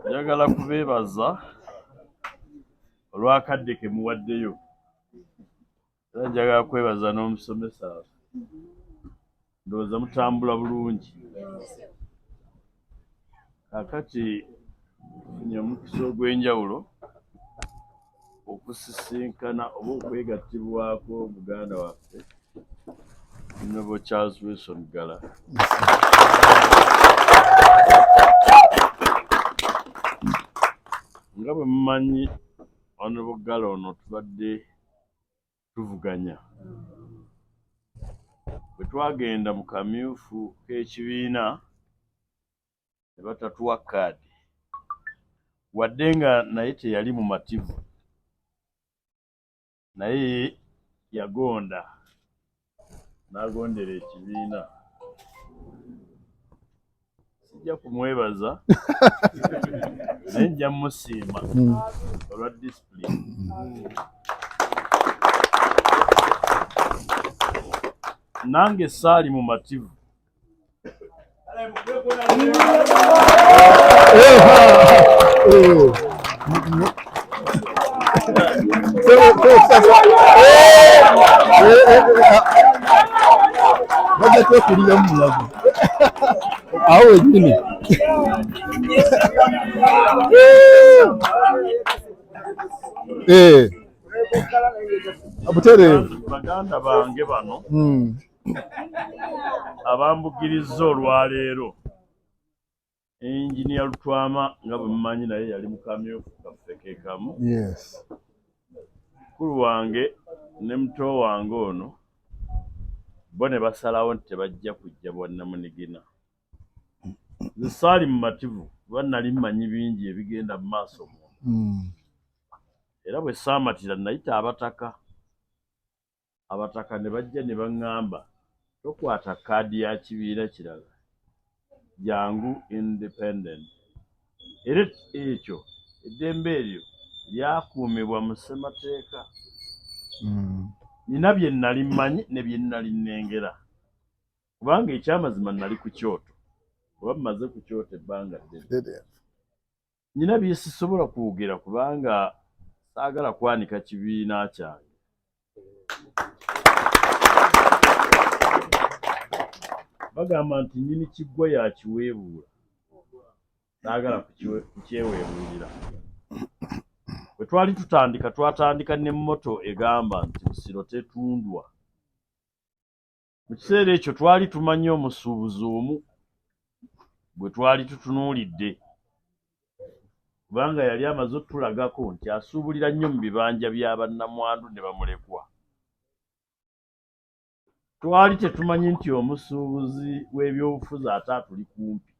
Njagala kubeebaza olw'akadde ke muwaddeyo era njagala kwebaza n'omusomesa ndowooza mutambula bulungi kakati funye omukisa ogw'enjawulo okusisinkana oba okwegattibwako muganda waffe nobo charles wilson gala nga bwe mumanyi onobo gala ono tubadde tuvuganya bwe twagenda mu kamyufu k'ekibiina ne batatuwa kaadi wadde nga naye teyali mumativu naye yagonda n'agondera ekibiina sijja kumwebaza naye nja musiima hmm. olwa disipulini nange saali mumativu bajja twekuliramu mulago awo wenyini butereevu baganda bange bano hmm. abambugirizza olwaleero enginia lutwama nga bwemumanyi naye yali mukamyufu kaffe kekamu mukulu wange ne muto wange ono bo ne basalawo nti tebajja kujja bwannamunigina nze saali mumativu kuba nali mmanyi bingi ebigenda mu maaso mu hmm. era bwe saamatira nayita abataka abataka ne bajja ne baŋŋamba tokwata kkaadi ya kibiina kirala, jangu Independent. Era ekyo eddembe eryo lyakuumibwa mu Ssemateeka. Nnina bye nnali mmanyi ne bye nnali nnengera, kubanga eky'amazima nnali ku kyoto, oba mmaze ku kyoto ebbanga ddene. Nnina bye sisobola kwogera kubanga saagala kwanika kibiina kyange. Bagamba nti nnyini kiggwa yakiweebuula, saagala kukyeweebuulira. Bwe twali tutandika twatandika ne mmoto egamba nti Busiro tetundwa. Mu kiseera ekyo twali tumanyi omusuubuzi omu gwe twali tutunuulidde kubanga yali amaze otulagako nti asuubulira nnyo mu bibanja bya bannamwandu ne bamulekwa. Twali tetumanyi nti omusuubuzi w'ebyobufuzi ate atuli kumpi.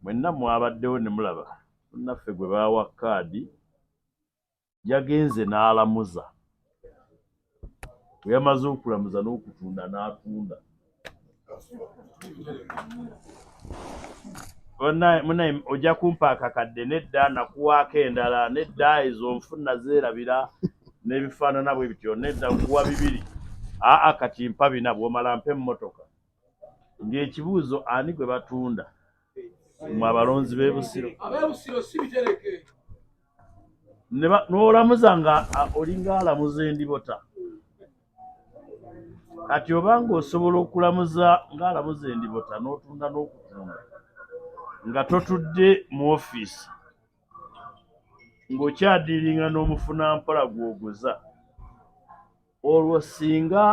Mwenna mwabaddewo ne mulaba munnaffe gwe baawa kaadi yagenze n'alamuza. Bwe yamaze okulamuza n'okutunda n'atunda. Munaye ojja kumpa akakadde nedda nakuwaako endala nedda ezo nfuna zeerabira n'ebifaanana bwe bityo nedda nkuwa bibiri aa kati mpa bina bw'omala mpa emmotoka. Ng'ekibuuzo ani gwe batunda mwe abalonzi b'e Busiro? N'olamuza nga olinga alamuza endibota. Kati oba ng'osobola okulamuza ng'alamuza endibota n'otunda n'okutunda nga totudde mu ofiisi ng'okyadiiringa n'omufunampola gw'oguza. olwo singa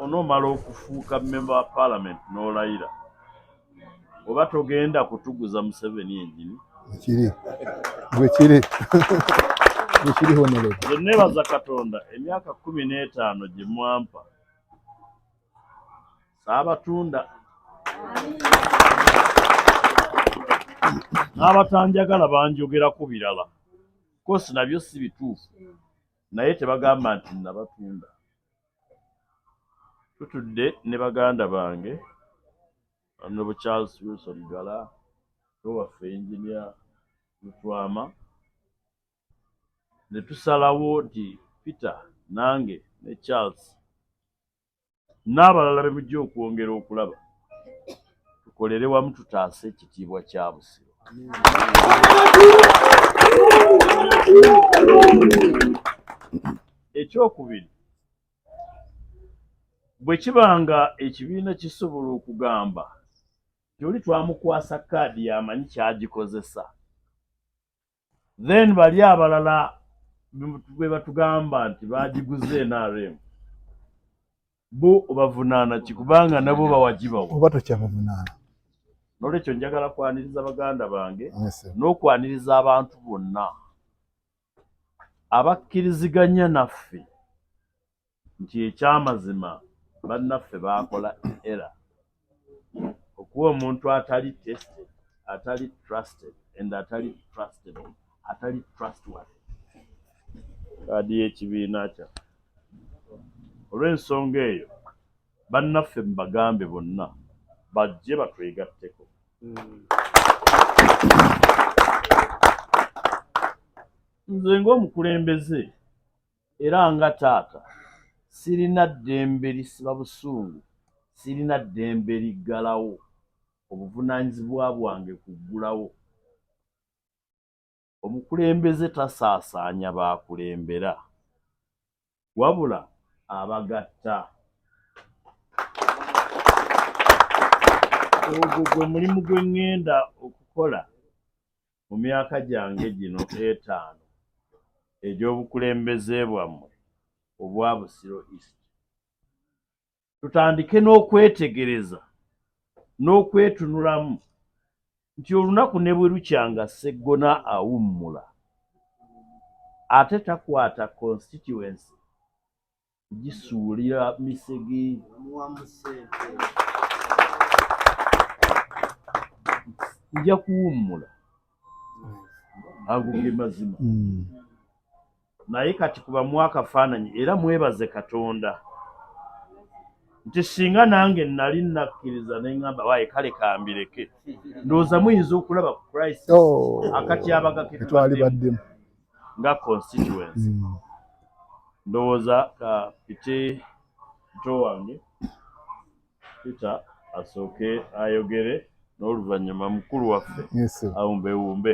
onomala okufuuka member wa parliament nolayira oba togenda kutuguza museveni enyini ekiri gwekiri gwekiri honere nebaza katonda emyaka kumi n'etaano gye mwampa saabatunda n'abatanjagala banjogera ku birala kosi nabyo si bituufu naye tebagamba nti nabatunda tutudde ne baganda bange nobu charles wilson gala nowaffe enginia lutwama netusalawo nti peter nange ne charles n'abalala be mujja okwongera okulaba tukolere wamu tutaase ekitiibwa kya Busiro. Ekyokubiri, bwe kiba nga ekibiina kisobola okugamba nti oli twamukwasa kaadi yamanyi kyagikozesa Then bali abalala bebatugamba nti bagiguze NRM bo obavunaana ki kubanga nabo bawagibawo oba tokyabavunaana nolwekyo njagala kwaniriza baganda bange n'okwaniriza abantu bonna abakkiriziganya naffe nti ekyamazima bannaffe baakola era okuwa omuntu atali tested atali trusted and atali trusted atali trustworthy kaadi y'ekibiina kyaffe olw'ensonga eyo bannaffe mubagambe bonna bajje batwegatteko nze ng'omukulembeze Era nga taata, sirina ddembe lisiba busungu, sirina ddembe liggalawo obuvunaanyizibwa bwange ku ggulawo. Omukulembeze tasaasaanya b'akulembera, wabula abagatta. Ogwo gwe mulimu gwe ŋŋenda okukola mu myaka gyange gino etaano egy'obukulembeze bwammwe obwa Busiro East, tutandike n'okwetegereza n'okwetunulamu nti olunaku ne bwe lukya nga Sseggona awummula ate takwata constituency gisuulira misege nja kuwummula ago ge mazima mm. naye kati kubamu akafaananyi era mwebaze katonda nti singa nange nali nakkiriza neŋamba waye kale kambireke ndowooza muyinza okulaba ku christ oh. akatyabaga ketwalibaddemu nga constituency mm. ndowooza ka piti pito wange peter asooke ayogere n'oluvannyuma mukulu waffe awumbewumbe